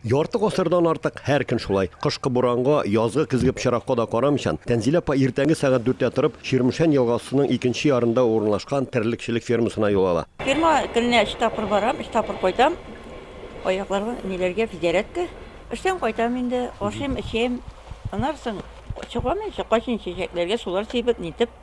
Ярты гасырдан артык һәр көн шулай, кышкы буранга, язгы-көзге пычракка да карамыйчан, Тәнзилә апа иртәнге сәгать дүрттә торып, Чирмешән елгасының икенче ярында урынлашкан терлекчелек фермасына юл ала. Ферма көненә өч тапкыр барам, өч тапкыр кайтам. Аякларга, ниләргә, физзарядка. Эштән кайтам инде, ашыйм, эчәм. Аннары соң чыгам, кайчан чәчәкләргә сулар сибеп, нитеп.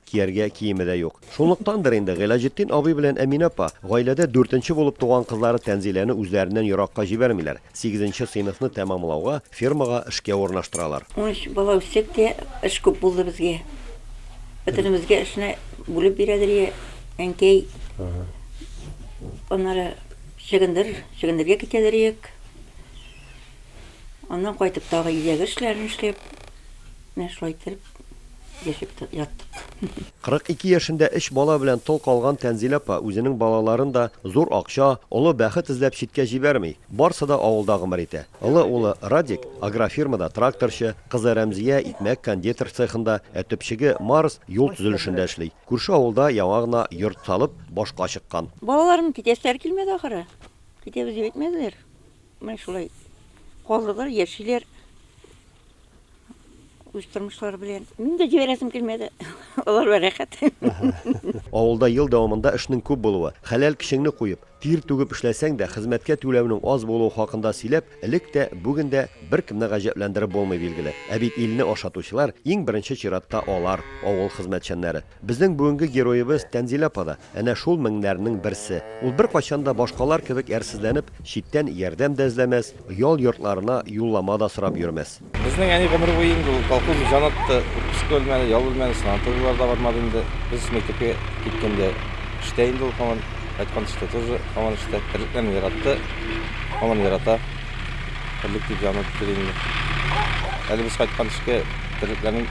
Кияргә киеме дә юк. Шунлыктандыр инде, Гыйләҗетдин абый белән Әминә апа, гаиләдә дүртенче булып туган кызлары Тәнзиләне үзләреннән еракка җибәрмиләр, сигезенче сыйныфны тәмамлауга, фермага эшкә урнаштыралар. Унөч бала үстек тә, эш күп булды безгә. Бөтенебезгә эшне бүлеп бирә Дөрия әнкәй. Аннары чөгендер, чөгендергә китә Дөриек. Аннан кайтып, тагы өйдәге эшләрен эшләп, менә шулай иттереп. Яшәп тә яттык. 42 яшендә өч бала белән тол калган Тәнзилә апа үзенең балаларын да зур акча, олы бәхет эзләп читкә җибәрми. Барсы да авылда гомер итә. Олы улы, Радик, агрофирмада тракторчы, кызы Рәмзия икмәк-кондитер цехында, ә төпчеге, Марс, юл төзелешендә эшли. Күрше авылда яңа гына йорт салып, башка чыккан. Балаларымның китәселәре килмәде, ахры. Китәбез дип әйтмәделәр. Менә шулай калдылар, яшиләр. үз тормышлары белән. Мин дә җибәрәсем килмәде. Алар да рәхәт. Авылда ел дәвамында эшнең күп булуы, хәләл кешеңне куеп, тир түгеп эшләсәң дә, хезмәткә түләүнең аз булуы хакында сөйләп, элек тә, бүген дә беркемне гаҗәпләндереп булмый, билгеле. Ә бит илне ашатучылар, иң беренче чиратта алар, авыл хезмәтчәннәре. Безнең бүгенге героебыз Тәнзилә апа да әнә шул меңнәрнең берсе. Ул беркайчан да башкалар кебек әрсезләнеп, читтән ярдәм дә эзләмәс, ял йортларына юллама да сорап йөрмәс. Безнең әни гомере буе инде ул колхозны җан атты, өске бүлмәне, ял бүлмәне, санаторийлар да бармады инде. Без мәктәпкә киткәндә эштә инде ул һаман, кайткан төшкә тоже һаман эштә. Терлекләрне яратты, һаман ярата. Терлек дип янып китер инде. Әле без кайткан төшкә терлекләрнең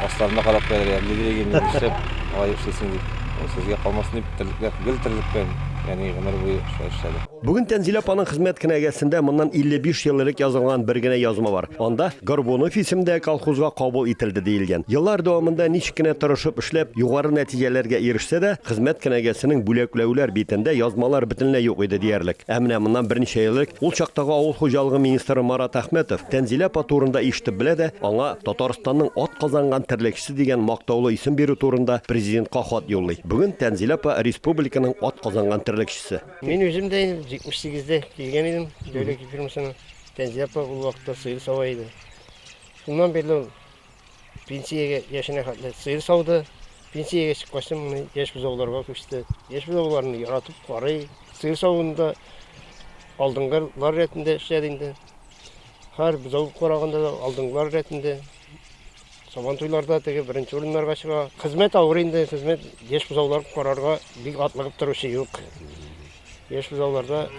асларына карап куялар, әле гелеге ни эшләп алай эшлисең дип. Сезгә калмасын дип терлекләр гел терлеккән, яни гомер буе шулай эшләде. Бүген Тәнзилә апаның хезмәт кенәгәсендә моннан 55 ел элек язылган бер генә язма бар. Анда Горбунов исемдә колхозга кабул ителде, диелгән. Еллар дәвамында ничек кенә тырышып эшләп, югары нәтиҗәләргә ирешсә дә, хезмәт кенәгәсенең бүләкләүләр битендә язмалар бөтенләй юк иде диярлек. Ә менә моннан берничә ел элек ул чактагы авыл хуҗалыгы министры Марат Әхмәтов Тәнзилә апа турында ишетеп белә дә, аңа Татарстанның атказанган терлекчесе дигән мактаулы исем бирү турында Президентка хат юллый. Бүген Тәнзилә апа республиканың атказанган терлекчесе. Мин үзем дә инде 78 дә килгән идем, Дәүләкәй фирмасына. Фәнзия апа ул вакытта сыер сава иде. Шуннан бирле ул пенсиягә яшенә хәтле сыер сауды. Пенсиягә чыккач, моны яшь бозауларга күчте. Яшь бозауларны яратып карый. Сыер савында алдынгылар рәтендә эшләде инде. Һәр бозау караганда да алдынгылар рәтендә Сабантуйларда теге беренче урыннарга чыга. Хезмәт авыр инде, хезмәт яшь бозаулар карарга бик атлыгып торучы юк. Яшь бозауларда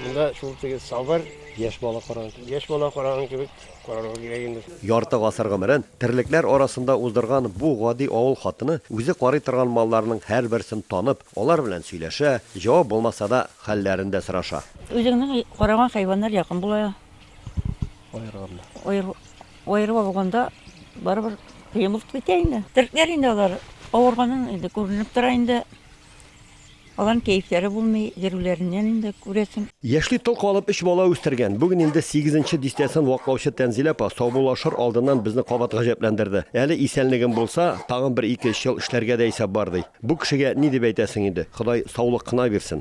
монда шул теге сабыр, Яшь бала караган. яшь бала караган кебек карарга кирәк инде. Ярты гасыр гомерен терлекләр арасында уздырган бу гади авыл хатыны үзе карый торган малларның һәрберсен танып, алар белән сөйләшә, җавап булмаса да, хәлләрен дә сораша. Үзеңнең караган хайваннар якын була. Аерганнар. Аер, аерып алганда барыбер кыймылт китә инде. Тертләр инде алар авырганын инде күренеп тора инде. Алан кәефләре булмый, йөрүләреннән инде күрәсең. Яшьли тол калып өч бала үстергән, бүген инде сигезенче дистәсен ваклаучы Тәнзилә апа саубуллашыр алдыннан безне кабат гаҗәпләндерде. Әле исәнлегем булса, тагын бер ике-өч ел эшләргә дә исәп бар, ди. Бу кешегә ни дип әйтәсең инде, Ходай саулык кына бирсен.